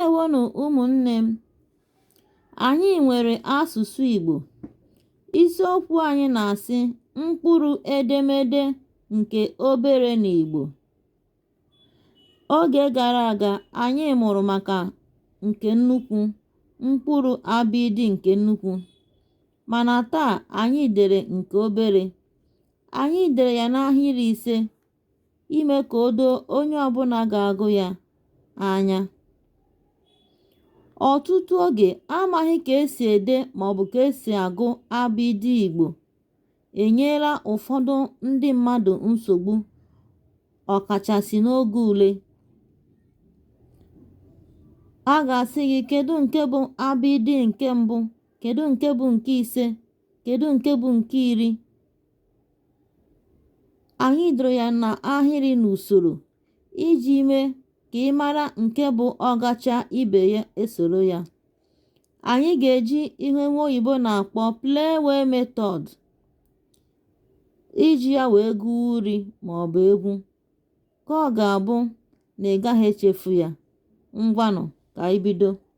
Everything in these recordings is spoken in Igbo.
Ndewonụ ụmụnne m. Anyị nwere asụsụ Igbo. Isiokwu anyị na-asị mkpụrụ edemede nke obere na Igbo. Oge gara aga, anyị mụrụ maka nke nnukwu, mkpụrụ abịịdị nke nnukwu. Mana taa, anyị dere nke obere. Anyị dere ya n'ahịrị ise ime ka o doo onye ọbụla ga-agụ ya anya. Ọtụtụ oge, amaghị ka esi ede maọbụ ka esi agụ abịdịị Igbo enyela ụfọdụ ndị mmadụ nsogbu ọkachasị n'oge ule. A ga-asị gị kedu nke bụ abịdịị nke mbụ, kedu nke bụ nke ise, kedu nke bụ nke iri. anyị doro ya n'ahịrị n'usoro iji mee ka ị mara nke bụ ọ gachaa ibe ya esoro ya. Anyị ga-eji ihe nwa oyibo na-akpọ playway method iji ya wee gụọ uri maọbụ egwu ka ọ ga-abụ na ị gaghị echefu ya. Ngwanụ ka anyị bido.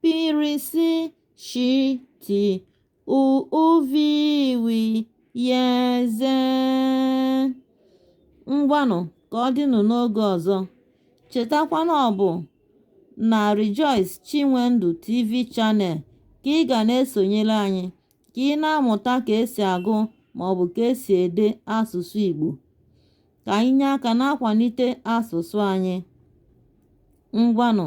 p r s sh t u ụ v w y z ngwanụ ka ọ dịnụ n'oge ọzọ chetakwa na ọ bụ na Rejoice Chinwendu TV Channel ka ị ga na-esonyere anyị ka ị na-amụta ka esi agụ maọbụ ka esi ede asụsụ Igbo ka anyị nye aka na-akwalite asụsụ anyị ngwanụ